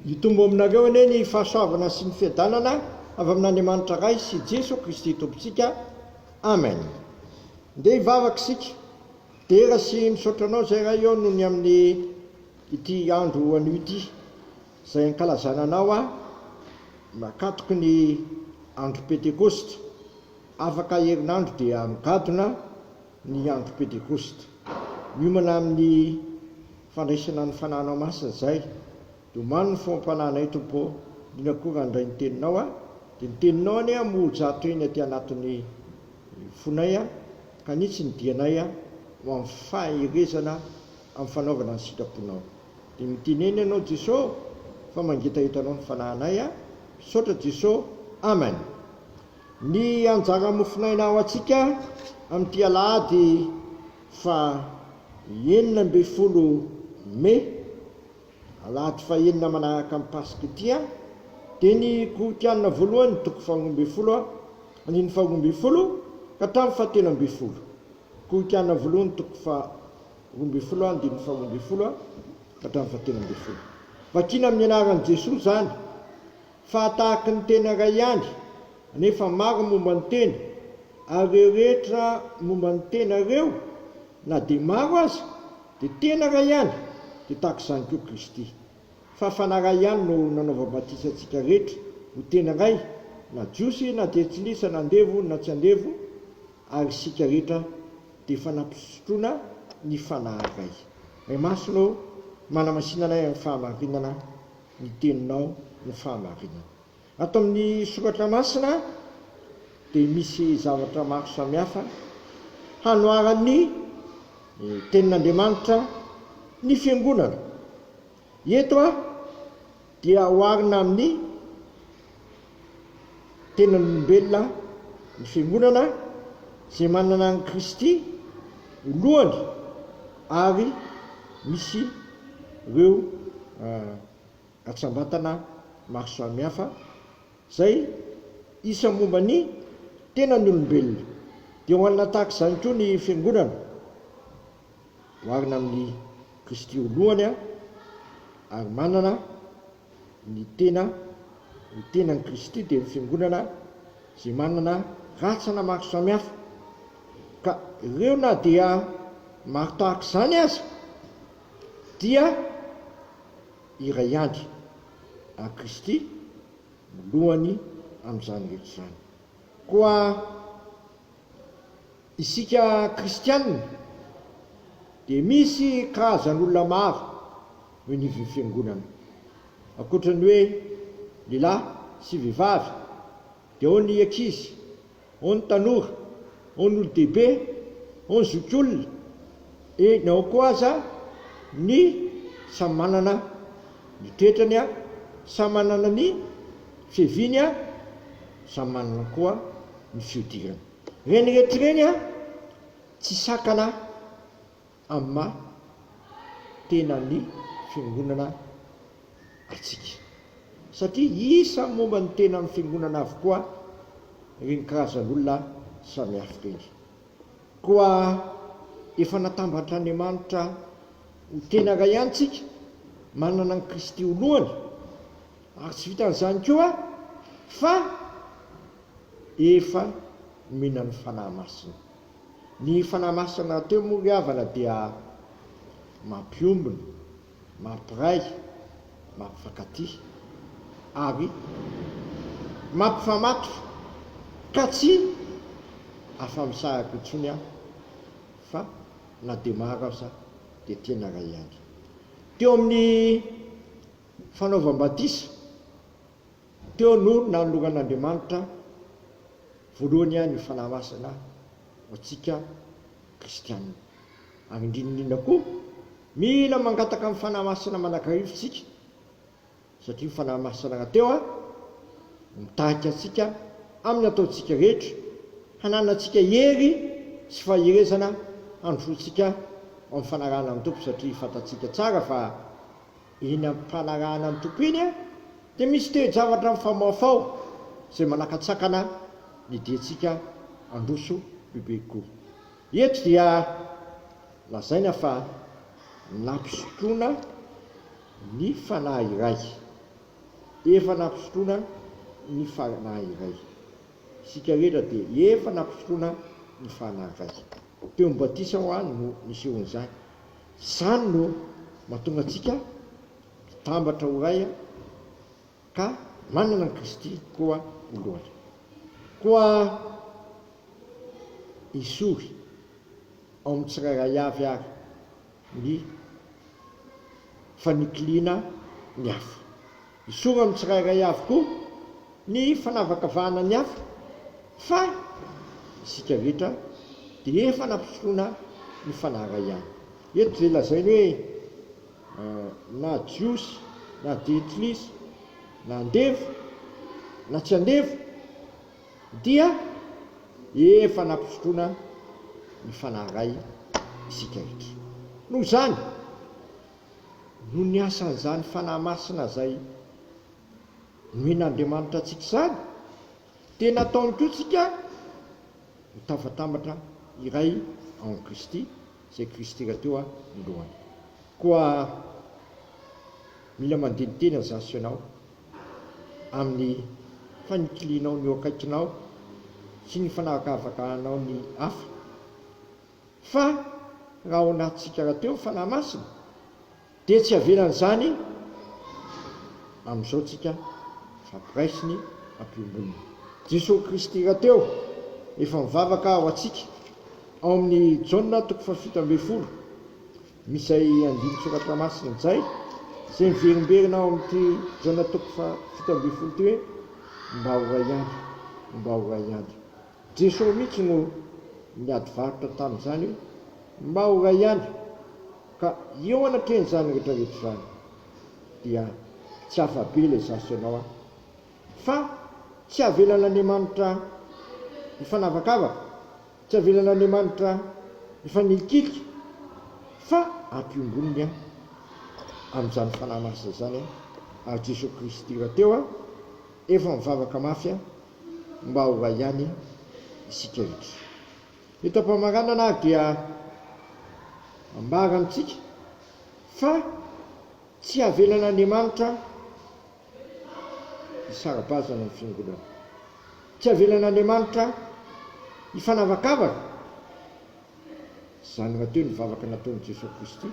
Hitombo aminareo anie ny fahasoavana sy ny fiadanana avy amin'Andriamanitra Ray sy Jeso Kristy Tompontsika. Amen. Ndeha hivavaka isika. Dera sy misaotra Anao izay Ray ô noho ny amin'ny ity andro anio ity izay ankalazana Anao a nakatoky ny andro Pentekosta. Afaka herinandro dia migadona. ny andro Pentekosta. Miomana amin'ny fandraisana ny Fanahinao Masina izay. Dia omano ny foham-panahinay, Tompo ô, indrindra koa raha handray ny Teninao aho. Dia ny Teninao anie moa-jato teny aty anatin'ny fonay ka hanitsy ny dianay ho amin'ny faherezana amin'ny fanaovana ny sitraponao. Dia mitenena Ianao Jeso fa mangetahetanao ny fanahinay aho. Misaotra Jeso. Amen. Ny anjara mofonaina ho antsika amin'ity alahady fahenina ambin'ny folo mey, alahady fahenina manaraka ny Paska ity, dia ny Gorikiana voalohany ny toko faharoa ambin'ny folo andininy faharoa ambin'ny folo ka hatramin'ny fahatelo ambin'ny folo, Gorikiana voalohany toko faharoa ambin'ny folo andininy faharoa ambin'ny folo ka hatramin'ny fahatelo ambin'ny folo. Vakina amin'ny anaran'i Jesoa izany. Fa tahaky ny tena iray ihany, nefa maro momba ny tena, ary ireo rehetra momba ny tena ireo, na dia maro aza, dia tena iray ihany, dia tahaka izany koa Kristy. Fa Fanahy iray ihany no nanaovam-batisa antsika rehetra ho tena iray, na Jiosy na Jentilisa, na andevo na tsy andevo, ary isika rehetra dia efa nampisotroina ny Fanahy iray. May Masina ô, manamasina anay amin'ny fahamarinana ny teninao no fahamarinana. Ato amin'ny soratra masina dia misy zavatra maro samihafa hanoharan'ny tenin'Andriamanitra ny fiangonana. Eto dia oharina amin'ny Tenan'olombelona ny Fiangonana izay manana an'i Kristy ho lohany ary misy ireo hatsambatana maro samihafa izay isa momba ny tenan'olombelona. Dia ho anona tahaka izany koa ny Fiangonana, oharina amin'i Kristy ho lohany ary manana Ny tena, ny tenan'i Kristy dia ny Fiangonana izay manana rantsana maro samihafa, ka ireo na dia maro tahaka izany aza dia iray ihany, ary Kristy no lohany amin'izany rehetra izany. Koa. Isika kristiana dia misy karazan'olona maro eo anivon'ny fiangonana. Ankoatra ny hoe lehilahy sy vehivavy dia ao ny ankizy, ao ny tanora, ao ny olon-dehibe, ao ny zokiolona, eny ao koa aza ny samy manana ny toetrany, samy manana ny fiaviany, samy manana koa ny fihodirany. Reny reto reny a tsy sakana am maha tena ny fiangonana atsika satria isa momba ny tena am fiangonana avokoa reny karazan olona samihafa reny koa efa natambantr Andriamanitra ho tena ray ihany tsika manana an Kristy ho lohany ary tsy vitan zany koa fa efa nomenan'ny Fanahy Masina. Ny Fanahy Masina rahateo moa ry havana dia mampiombona, mampiray, mampifankatia ary mampifamatotra ka tsy afa-misahaka intsony aho fa na dia maro aza dia tena iray ihany. Teo amin'ny fanaovam-batisa Teo no nanoloran'Andriamanitra voalohany ihany io Fanahy Masina ho antsika kristiana. Ary indrindra indrindra koa, mila mangataka ny Fanahy Masina manakarivo isika, satria io Fanahy Masina rahateo no mitarika antsika amin'ny ataontsika rehetra, hananantsika hery sy faherezana handrosoantsika ao amin'ny fanarahana ny Tompo, satria fantatsika tsara fa. Eny amin'ny fanarahana ny Tompo eny dia misy toe-javatra mifamaofao izay manakatsakana ny diantsika handroso bebe kokoa. Eto dia lazaina fa nampisotroana ny fanahy iray, efa nampisotroana ny fanahy iray. Isika rehetra dia efa nampisotroana ny fanahy iray. Teo amin'ny batisa ho'a no nisehoan'izany. Izany no mahatonga antsika hitambatra ho iray ka manana an'i Kristy koa ho lohany. Koa esory ao amin'ny tsirairay avy àry ny fanikiliana ny hafa. Zoro amin'ny tsirairay avy koa ny fanavakavahana ny hafa, fa isika rehetra dia efa nampifotroana ny Fanahy iray ihany. Eto dia lazainy hoe na Jiosy na Jentilisa, na andevo na tsy andevo, dia efa nampifotroana ny Fanahy iray isika rehetra. Noho izany. noho ny asan'izany Fanahy Masina izay nomen'Andriamanitra antsika izany, dia nataony koa tsika ho tavatambatra iray ao amin'i Kristy, izay Kristy rahateo no lohany. Koa mila mandeha ny tenany izaho sy ianao amin'ny fanikilianao ny eo akaikinao sy ny fanavakavakanao ny hafa. Fa raha ao anatintsika rahateo ny Fanahy Masina dia tsy avelan'izany amin'izao tsika fampiraisiny ampiomboniny. Jesosy Kristy rahateo efa mivavaka ho antsika ao amin'ny Jaona toko fahafito ambin'ny folo, misy izay andinin-tsoratra masina izay, izay miverimberina ao amin'ity Jaona toko fahafito ambin'ny folo ity hoe, Mba ho ray ihany, mba ho ray ihany. Jeso mihitsy no niady varotra tamin'izany Maura ihany ka eo anatrehan'izany rehetra rehetra izany dia tsy hafa be ilay zaza sy ianao an! Fa tsy avelan'Andriamanitra hifanavakavaka, tsy avelan'Andriamanitra hifanilikilika fa ampiomboniny an! amin'izany Fanahy Masina izany an! ary Jeso Kristy rahateo an! efa mivavaka mafy an! mba ho hay ihany isika rehetra. Eto am-pamaranana ary dia ambara amintsika fa tsy havelan'Andriamanitra hisara-bazana ny Fiangonana. Tsy havelan'Andriamanitra hifanavakavaka, izany rahateo ny vavaka nataon'i Jesoa Kristy.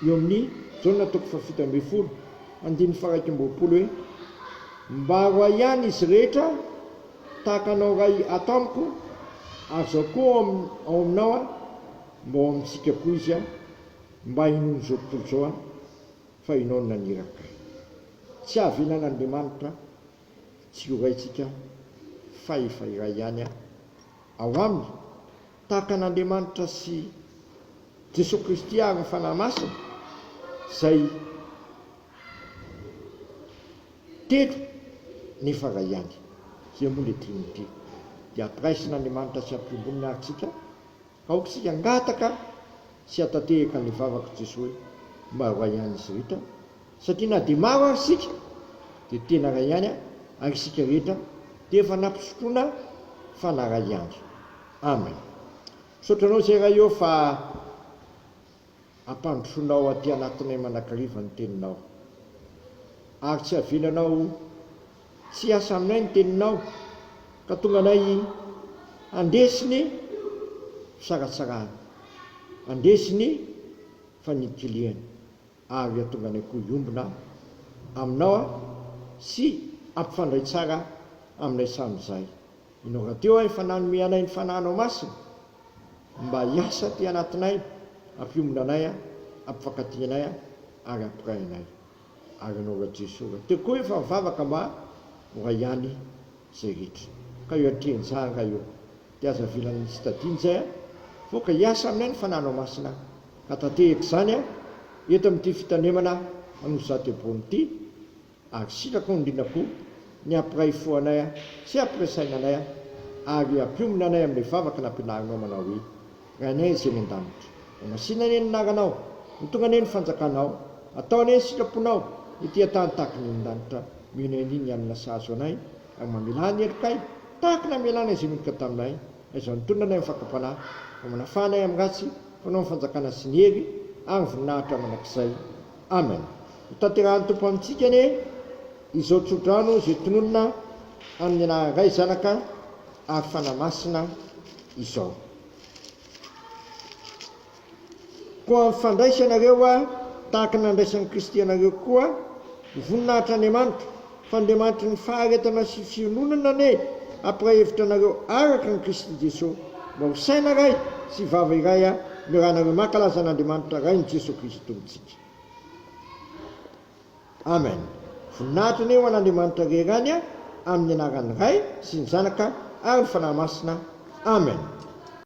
eo amin'ny Jaona toko fahafito ambin'ny folo, andininy faha-iraika amby roapolo hoe, Mbaro ahy ihany izy rehetra tahaka anao Ray ato amiko, ary izao koa ao ao aminao aho, mba ao amintsika koa izy an, mba hinoan'izao tontolo izao an, fa ianao no naniraka ahy. Tsy havelan'Andriamanitra tsy ho raintsika fa efa iray ihany an, ao aminy. Tahaka an'Andriamanitra sy Jesoa Kristy ary ny Fanahy Masina izay telo nefa iray ihany. Izay moa ilay Trinite. Dia ampiraisin'Andriamanitra sy ampiomboniny ary tsika, aoka isika hangataka sy hatatehaka ny vavak'i Jesoa hoe, Mba roahy an'i Zrita Satria na dia maro ary isika dia tena iray ihany an, ary isika rehetra dia efa nampisotroana fa naray ihany. Amen. Misaotra anao izay Ray ô fa ampandrosoanao aty anatinay manakariva ny teninao. Ary tsy avelanao tsy hiasa aminay ny teninao ka tonga anay handresy ny fisaratsarahana, handresy ny fanikiliana. ary hahatonga anay koa hiombona Aminao aho sy hampifandray tsara aminay samy izahay. Ianao rahateo aho efa nanome anay ny Fanahinao Masina mba hiasa aty anatinay, hampiombona anay, hampifankatia anay ary hampiray anay. Ary Ianao Ray Jesoa rahateo koa efa mivavaka mba ho ray ihany izay rehetra. Ka eo an-tren-jary Ray ô. Dia aza avela ny tsy tadiany izay an! Sao ka hiasa aminay ny Fananao Masina hatatehaka izany an! Eto amin'ity fitanemana an'Osy Zatebony ity, asitraka ondrina koa ny hampiray fo anay sy hampiray saina anay an! Ary hampionona anay amin'ilay vavaka nampianarinao manao hoe, Rainay izay any an-danitra, ho masina anie ny anaranao, ho tonga anie ny fanjakanao, atao anie ny sitraponao ety an-tany tahaka ny any an-danitra, mino an'i ny hanina sahazo anay Ary mamelà ny helokay, tahaka ny hamelàna izay miditra taminay, na izay mitonona anay amin'ny fakam-panahy, mba manafà anay amin'ny ratsy, fanao ny fanjakana sy ny hery ary ny voninahitra mandrakizay. Amen. Hotanterahan'ny Tompo amintsika anie izao tsodrano izay tononina amin'ny anaran'ny Ray, Zanaka ary Fanahy Masina izao. Koa mifandraisa ianareo tahaka ny nandraisan'i Kristy anareo koa, ny voninahitr'Andriamanitra, fa Andriamanitry ny faharetana sy fiononana anie hampiraha hevitra anareo araka an'i Kristy Jesosy, mba ho saina iray sy vava iray ny ranareo mankalaza an'Andriamanitra Rain'i Jesosy Kristy Tompontsika. Amen. Voninahitra anie ho an'Andriamanitra rery any amin'ny anaran'ny Ray sy ny Zanaka ary ny Fanahy Masina. Amen.